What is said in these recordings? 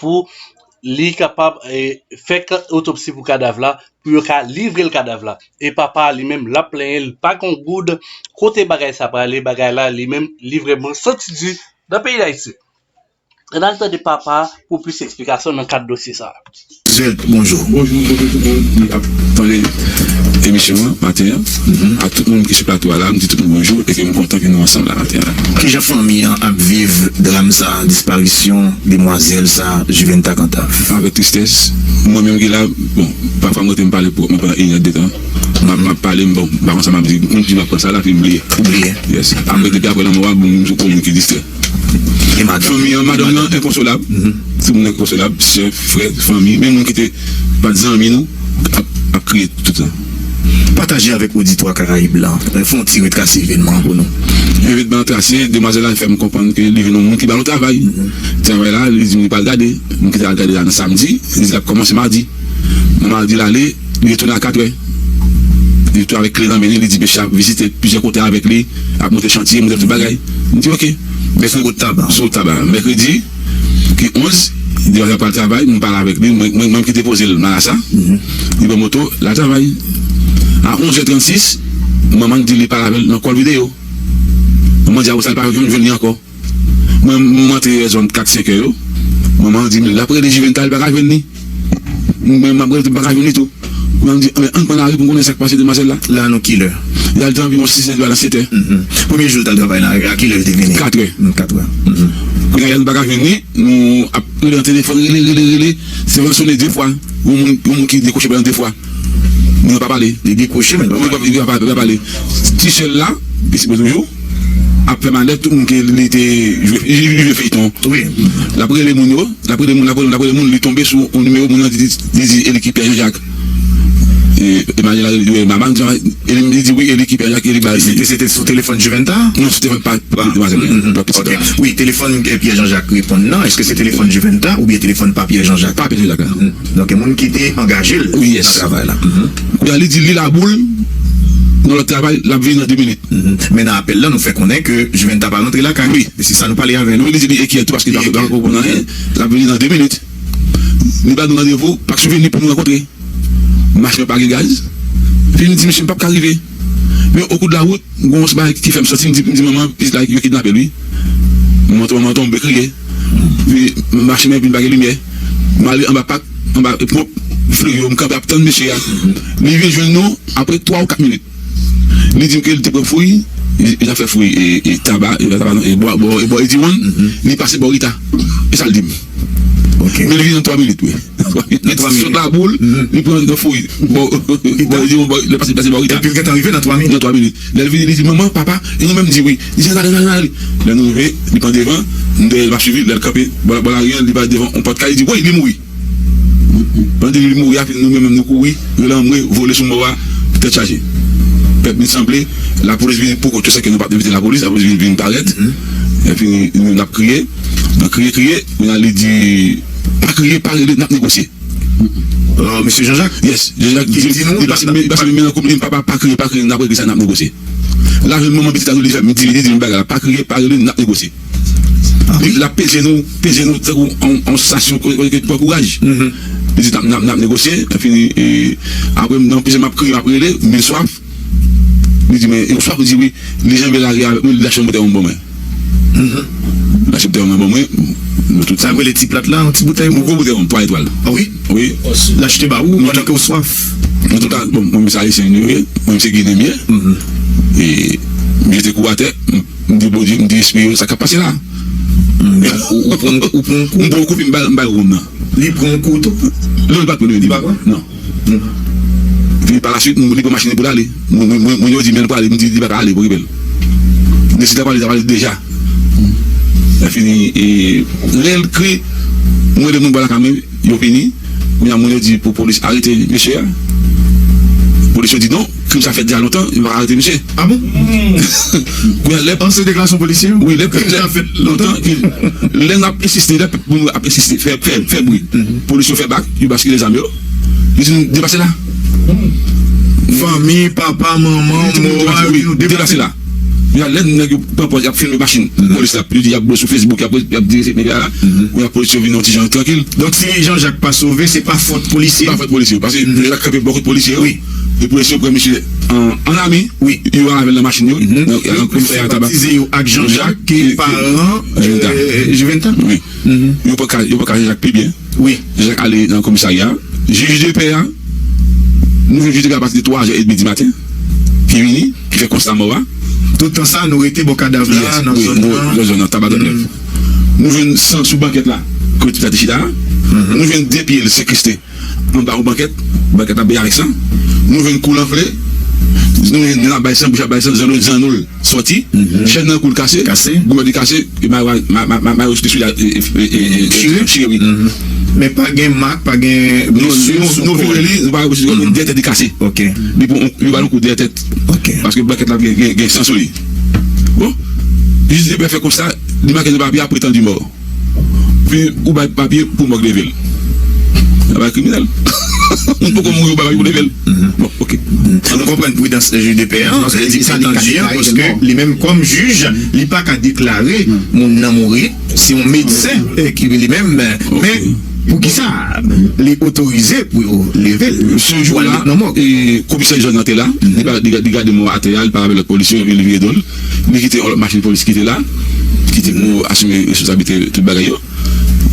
pou li kapab fè otopsi pou kadav la pou yo ka livre l kadav la e papa a li menm l ap plenyen l pa gen yon goud kote bagay sa prale bagay la li menm li vrèman santi di nan peyi Dayiti. Ann al tande papa a pou plis esplikasyon nan kad dosye sa. Swèd bonjou. Bonjou bonjou tout moun ki ap tande emisyon an maten an ak tout moun ki sou plato a la m di tout moun bonjou e ke m kontan ke nou ansanm la maten an la. Kijan fanmi an ap viv dram sa disparisyon demwazèl sa Juventa Cantave? Avèk tristès, mwen menm ki la bon pafwa m rete m pale pou mwen pandan inè de tan m ap pale bon m pa konn sa m ap di m di m ap konn sa la epi m bliye. Ou bliye? Yes apre depi apre lanmò a bon m sou konn moun ki distrè. Fanmi an, madanm nan enkonsolab, ti moun enkonsolab, sè, frè, fanmi, menm moun ki te pa t zanmi nou ap kriye tout tan. Pataje avèk oditwa Karayib la, fè yon ti retrase evènman an pou nou. Evènman an trase, demwazèl la fè m konprann ke li jwenn yon moun ki ba l yon travay. Travay la, li di m li pa l gade, moun ki te al gade la nan samdi, li di l ap kòmanse madi. Monaldi ale, li retounen a katrè. Li tou avèk kle nan men li, li di mesye a vizite plizyè kote avèk li, ap monte chantye, monte tout bagay. M di ok. Mèkredi Sou tab, sou tab a. Mèkredi ki 11, li deja pral travay, m pale avèk li, mwen menm ki depoze l Marasa, li pran moto, l al travay. A 11 è 36, manman l di li pale avè l nan kòl videyo. Manman di a ou sa l pa jwenn li ankò. Mwen m antre vè zòn 4 5 è yo, manman an di m lap rele Juvental li pa ka jwenn li, mwen map rele tou m pa ka jwenn li tou, manman m di anben ann pran lari poun konnen sak pase demwazèl la. Lè a nou kilè? Lè a li te anviwon 6 è di ba nan 7 è. Premye jou li t al travay la a kilè li te vini? 4 è. 4 è. Kounye a lè nou pa ka jwenn li, nou ap rele nan telefòn rele rele rele, sèvant sone 2 fwa, yon moun ki dekwoche pran 2 fwa. Moun yo pa pale yo dekwoche moun yo pa pale ti sèl la li sipoze toujou ap fè malè tout moun ke li te jwe feyton wi lap rele moun yo lap rele moun lap rele moun lap rele moun li tonbe sou yon nimewo moun nan di li di e li ki pè janjak e malè la rele mama li di wi e li ki pè janjak e li bay li se te sou telefòn juventa non sou telefòn pa demwazèl lan pa pitit la wi telefòn pè janjak reponn nan eske se telefòn juventa oubyen telefòn pa pè janjak pa pè janjak la. Donk gen moun ki te angaje l nan travay la. Kounya li di li laboul nan lòt travay lap vini nan 2 minit. Men nan apèl la nou fè konnen ke Juventa pa rantre lakay li. Se sa nou pale avè l wi. Li di li enkyète paske li pa konprann anyen. Lap vini nan 2 minit. Li ba nou randevou ak Souveni pou nou rankontre. Machin an pa gen gaz. Souveni di misye m pap ka rive. Men okou de la wout, gwo yon bagay ki fè m santi m di manman pitit la yo kidnape l wi. Manman tonmanman tonbe kriye. Epi machin nan vin pa gen limyè. M ale anba pak, anba ponp fri yo, m kanpe ap tann mesye a. Li vin jwenn nou apre twa ou kat minit. Li di m ke li te pran fouy, li t ap fè fouy e taba, taba non, e bwa bò Ediwonn. Li pase bò Rita. E sa l di m. Men li vin an twa minit wi. Li pran sot la boul, li pran nan fouy bò Rita, epi l gentan rive nan twa minit. Lè l vini li di, Manman, papa, e nou menm? Di wi. Li di, Al ale, al ale. Lè nou rive, li pran devan, m dèyè l m ap suiv li. Lè l kanpe bò lari an, li pare devan yon pòt kay, li di, Woy, li mouri! Pandan l di li mouri a, nou menm nou kouri, rele anmwe, vole sou mò a tèt chaje. Pèp vin sanble, lapolis vini pou kont yo sèke nou pa t envite lapolis. Lapolis vin parèt, epi nou menm n ap kriye. Nan kriye kriye, kounye a li di. Pa kriye pa rele nap negosye. Ahh mesye Jean Jacques yes Jean Jacques di m li pase m men nan koub li papa pa kriye pa kriye nap regle sa nap negosye lap jwenn manman pitit la tou li fèm di li di menm bagay la pa kriye pa rele nap negosye li lap peze nou peze nou tankou yon stasyon kote ki pran kouraj li di nap negosye epi aprè m nan peze map kriye map rele m vin swaf. Li di mwen, yon fwa, li di wi, li janbe lari avèk mwen, li lache yon boutèy ron ban mwen. Li lache boutèy ron nan ban mwen, nou tout. Sa yo rele ti plat la, yon ti boutèy ron? Yon gwo boutèy ron, twa etwal. Ah wi? Wi. Li achte ba ou pandan ke ou swaf. Nou tout a, bon, mwen menm se Ayisyen nou ye, mwen menm se Ginen m ye. E m jete kou a tè, m di Bondye, m di espri yo, sa k ap pase la? Ou pran yon kou? M pran yon kou epi m bay ron nan. Li pran yon kou tou? Non, li pa pran. Li pa pran? Non. Vini pa la suite m li pran machine poul ale mwen yo di menl pwale m di li paka ale pou ribel men si ta pwale li ta pwale deja lèfini lèl kri m rele moun bò lakay mwen yo vini kounya moun yo di pou polis arete mesye a polis yo di non. Krim sa fèt dja lontan yo paka arete misye. Ah bon? Kounya lè. An se deklarasyon polisye yo? Wi lè krim sa fèt lontan epi lè nap ensiste lè pèp moun ap ensiste fè fè bri polis yo fè bak yo baskile zam yo yo di nou depase la fanmi papa manman moral di nou depase la kounya lè nèg yo pran pòz yap filme machin polis la yo di yap bwè sou fesbouk yap di se medya la kounya polis yo vin yon ti jan trankil. Donk si Jean Jacques pa sove se pa fòt polisye yo? Se pa fòt polisye yo paske Jean Jacques kanpe bò kot polisye yo. Li pou eseye pran misye an lame wi yo al avèl nan machin yo nan komisè ya taba Juventat wi yo pran ka jan jak pi byen jan jak ale nan komisarya jij de pè ya nou jwenn jij de pè ya apati de 3 zè edmi di maten ki vini ki fè konsta mò a tout tan sa nou rete bò kadav la nan zòn nan taba dòm nèf nou jwenn san sou bankèt la kote tibisa te chita a nou jwenn 2 pyel sekriste. Anba yon bankèt, bankèt la bèy avèk san, nou jwenn kou l anfle, nou jwenn nen l ap bay san, bouch ap bay san, zanno zanno l sòti, chèn nan kou l kase, gouyad li kase, e mayo a, mayo yo sou pye sou li a chire wi. Men pa gen mak, pa gen blesi sou kò l. Non, nou vire li, nou pa wè blesi sou kò l, men dèyè tèt li kase. Li pran, yo ba l yon kou dèyè tèt, paske bankèt la gen san sou li. Bon, jis de pè fè konsta, li make nan papye a, Pretendue mort. Pi ou bay papye pou mòg leve l. Sa pa kriminèl? Moun poko mouri ou bay papye pou leve l? Bon ok. An nou konprann pridans jij de pè an, li etandu an paske li menm kòm jij li pa ka deklare moun nan mouri, se yon medsen ki wi li menm, men pou ki sa li otorize pou yo leve l pou al met nan mòg? Komisè Jòn nan te la, li gade mò a atè a, li pale avèk lòt polisye yo epi li vire do l. Li kite yon lòt machin polis ki te la, ki te pou asime responsablite tout bagay yo.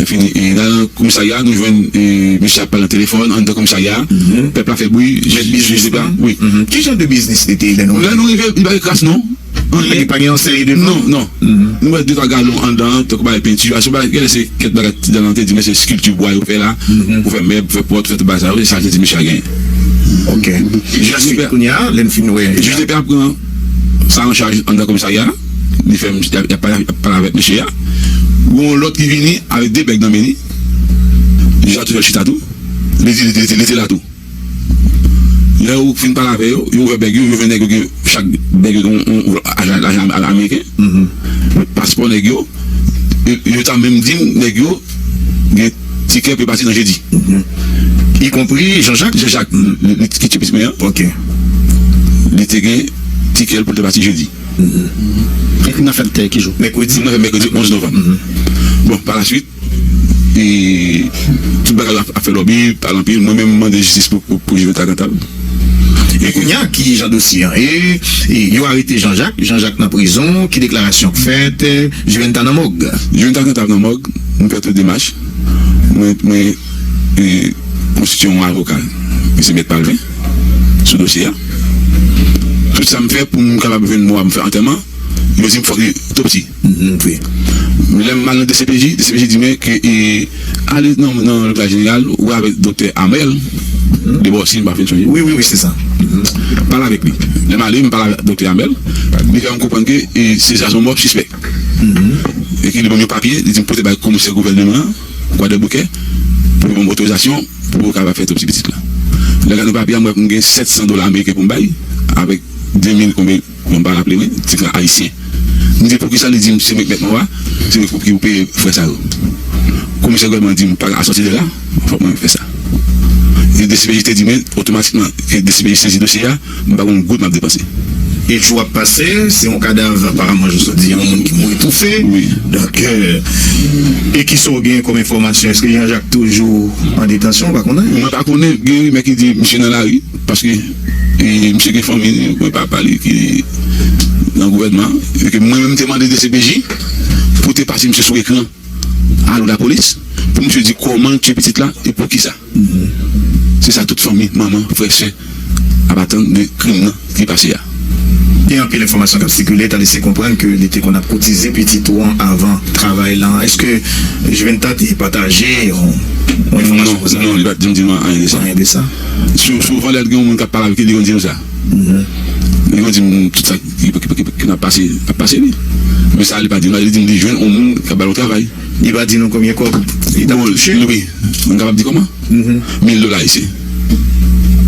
Epi nan komisarya a, nou jwenn misye ap pale nan telefòn anndan komisarya a. Pèp la fè bri, mèt biznis li te la. Wi. Ki jan de biznis li te lè nou rive? Lè nou rive, li pa gen kras non. Anyen. Li pa gen yon seri de non. Non, non. Nou wè de twa galon anndan an, tankou bagay penti a. Se yon bagay, gen lè se kèk bagay ti dannan. Li te di men se skilti bwa yo fè la pou fè mèb, pou fè pòt, pou fè tout bagay sa yo. Se sa li te di misye a genyen. Ok. Jij de pè. Kounya, lè n fin wè. Jij de pè a pran. sa an chaj anndan komisarya a, li fè m, y ap pale avèk, y ap pale avèk mesye a, gen yon lòt ki vini avèk 2 bèg nan men li, li chwazi fè l chita tou, li di li te la tou. Lè yo fin pale avè yo, yo ouvè bèg yo, yo jwenn nèg yo gen, chak bèg yo gen yon lajan ameriken, paspò nèg yo, yo ta menm di m nèg yo, Gen ti kè pe pati nan jedi. Y konpri Janjak. Janjak ki tchipi simen an. Ok. Li te gen ti kè l pou l te pati jedi. Epi n ap fè l ki jou? Mèkredi. N ap fè l mèkredi 11 novanm. Bon, palaswit, tout bagay yo ap fè lòbi, pale anpil. Mwen menm mande jistis pou Jovita Cantal. E kounya ki jan dosye an ye? Yo arete Jean Jacques, Jean Jacques nan prizon, ki deklarasyon k fèt? Juventa nan mòg. Juventa nan tab nan mòg, m fè tout demach, mwen mwen konstitye yon avoka ki se mèt Palvin sou dosye a. Tout sa m fè pou m kapab jwenn mo a pou m fè antèman, yo di m fòk li otopsi. Montre. Lè m al nan dcpj, dcpj di mwen ke ale nan lopital jeneral wè avèk doktè Amel Debò si m pa fin sonje. Wi, wi, wi, se sa. Pale avèk li. Lè m ale, m pale avèk doktè Amel, li fè m konprann ke se sa son mò sispèk. E ke li ban m yon papye, li di m pote bay komisè gouvèneman an, Kwadèboukè, pou li ban m otorizasyon pou yo kapab fè otopsi pitit la. Lè m gade papye a, m wè m gen 700 dola ameriken pou m bay avèk 2000 konbe. Mwen pa raple wi tig la ayisyen. M di poukisa li dim se mwen ki met mo a, se mwen fok yo peye frè sa yo. Kou misye gòlman dim pa ka sòti de la, fòk mwen fè sa. E dcpj te di mwen otomatikman ke dcpj sezi dosye a, mwen pa gon goud map depanse. E jou ap pase, se yon kadav aparamman jou sa di yon moun ki mouri toufe. Donk e kisa w gen kòm enfòmasyon? Eske Jean Jacques toujou an detansyon ou pa konnen? Mwen pa konnen, gen rimè ki di misye nan lari paske. E misye gen fanmi li oubyen papa li ki nan gouvènman an. E ke mwen menm te mande dcpj pou te pase misye sou ekran Allo Lapolis pou misye di kòman l tiye pitit la e poukisa. Se sa tout fanmi, manman, frè, sè ap atann de krim nan ki pase a. Gen anpil enfòmasyon k ap sikile ta lese konprann ke li te konn ap kotize pitit ou an avan travay lan. Eske Juventat te pataje yon enfòmasyon konsa? Non, non, li pa janm di nou anyen de sa. Sou sou valè gen yon moun kap pale avèk li li konn dim sa li konn dim tout sa ki nan pase ap pase li men sa li pa dim la li dim li jwenn yon moun kap bal yon travay Li pa di nou konbyen kòb li tap touche? Bon wi m kapab di kòman mil dola ayisyen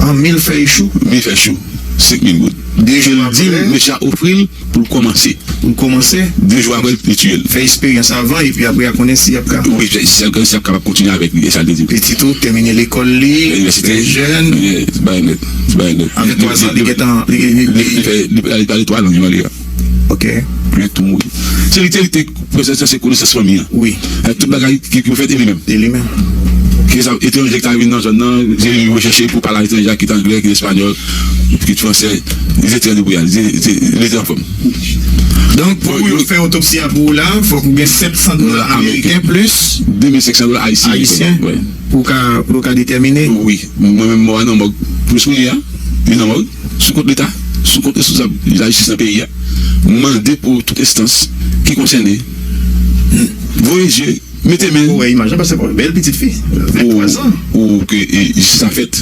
An mil fèy chou? Mil fèy chou 5000 goud Li dim mesye a ofril Pou l kòmanse. Pou l kòmanse, de jou apre l te tiye l. Fè esperyans avan epi apre a konnen si y ap ka. Wi, si y ap kapab kontinye avèk li, e sa l te di. Pitit ou tèmine lekòl li, fè jèn. Li bay nèt. Li bay nèt. Avèk twa zan, li gen tan. Li pale twa lang, li pale. Ok. Li tou mouri. Se li te. Konesans lan se konesans fanmi an wi tout bagay ki pou fèt e li menm e li menm ki sa etranje ki ta vin nan zòn nan se li pou yo chèche pou pale a etranje a kit anglè kit espanyòl kit fransè li se trè li pou yal li se li se anfòm donk pou yo fè otopsi a pou ou la fòk ou gen 700 dola ameriken plis 2500 dola ayisyen pou ka pou yo ka detèmine wi mwen menm mò a nan mòg plis kounye a li nan mòg. sou kont Leta, sou kont responsab lajistis nan peyi a, mande pou tout enstans ki konsène voye zye, mete men, pou ke jistis la fèt,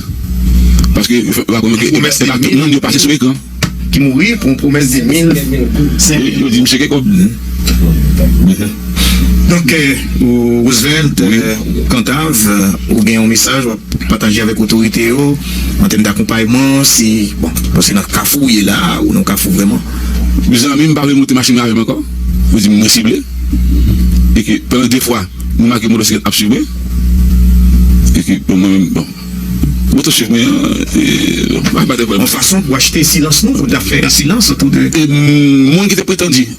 paske yo pa konnen ke se pa tout moun yo pase sou ekran. Yo di misye gen kòb. Donk Roosevelt Kantav ou gen yon mesaj wap pataje avèk otorite yo an tèm dakonpayman si bon paske nan kafou ou ye la a ou nan yon kafou vrèman. Mezanmi m pa vle monte machin nan avèm ankò yo di m mwen sible e ke pandan 2 fwa m make motosiklèt ap swiv mwen e ke bon mwen menm bon moto swiv mwen an e m pa bay tèt yon fason pou achte silans nou fout la fè silans otou de moun ki te pretandi.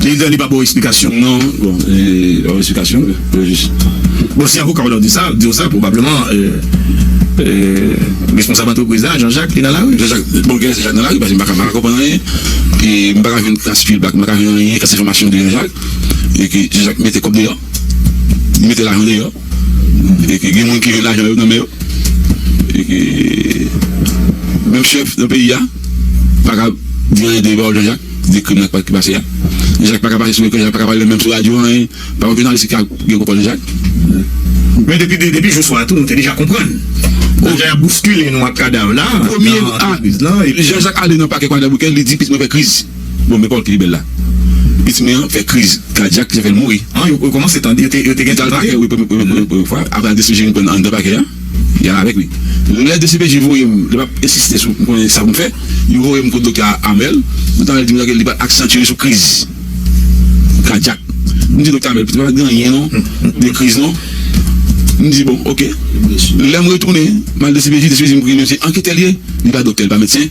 Prezidan li pa baw esplikasyon. Non bon li baw esplikasyon yo jis. Bon si avoka w lan di sa di w sa pwobableman responsab antrepriz la Jean Jacques li nan lari. Jean Jacques bon gen lè Jean Jacques nan lari paske m paka konprann anyen e m paka jwenn trace fil bak m paka jwenn anyen kase enfòmasyon de Jean Jacques e ke Jean Jacques mete kòb deyò. Li mete lajan deyò e ke gen moun ki jwenn lajan yo nan men yo e ke menm chèf nan peyi a pa ka di anyen de Bawo Janjak, de krim nan ki pase a. Janjak pa ka pase sou ekran, Janjak pa ka pale menm sou radyo anyen. Pa yon jounalis ki ka gen kontwòl Janjak. Men depi jou swa a tou nou te deja konprann jan y ap bouskile nou ak kadav la nan antrepwiz lan. Premye a, Janjak ale nan pakè Kwadèboukè, li di pitit mwen fè kriz. Bon men kòl ki li bèl la. Pitit mwen an fè kriz kadyak jefèl mouri. An yo komanse tande yo te gen djal pakè wi premye fwa apre al dcpj vin prann anndan pakè a yal avèk li lè dcpj voyem lè map ensiste sou m konnen sa poum fè yo voyem kot doktè amèl mwen ta al dim li pat aksantiye sou kriz kadyak m di doktè amèl pitit mwen pat gen anyen non de kriz non m di bon ok lèm retounen mal dcpj dcpj dim kriz mwen se anketè liye li pa doktè li pa medsen.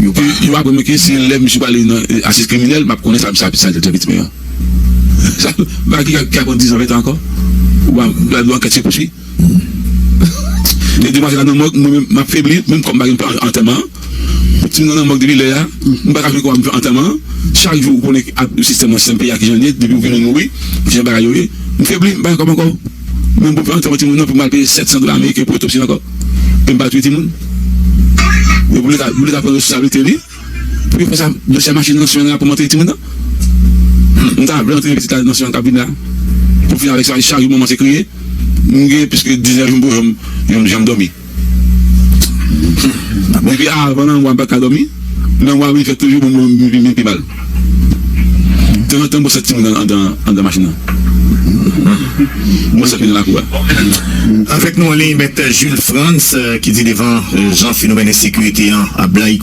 Yo aprann mwen ke se lè misye prale nan asis kriminèl map konnen sa misye ap sal djab etime an. Bagay ki ka pran dizan ventan ankò. Ou pa wè lè ankèt se pouswi. Lè demwazèl la nan mòg mwen menm map febli menm kòm pa gen pou m fè antèman an. Timoun nan nan mòg depi lè a m paka jwenn kòman pou m fè antèman an. Chak jou ou konnen ak sistèm nan sistèm peyi a kijan l ye depi ou gen moun mouri kijan bagay yo ye. M febli m pa gen kòb ankò. Mwen poko antre yon timoun non pou m al peye 700 dola ameriken pou otopsi ankò e m pa touye timoun. Yo pou leta pou leta pran responsablite li pou yo fè sa nan sè machin nan sè nan pou monte timoun nan. Humm m ta vle antre pitit la nan sè an kap vin la pou fini avèk sa chak jou manman se kriye m gen plis ke 10 èr jou m poko janm janm dòmi. Depi avan nan mwa m pa ka dòmi, nan mwa wi fèt toujou bon m vin pi mal. Tanzantan mwen sot ti moun andan machin nan. Mwen sot li nan lakou a. Avèk nou anliy Mèt Jules Frantz ki di devan jan fenomèn ensekirite an ap blayi.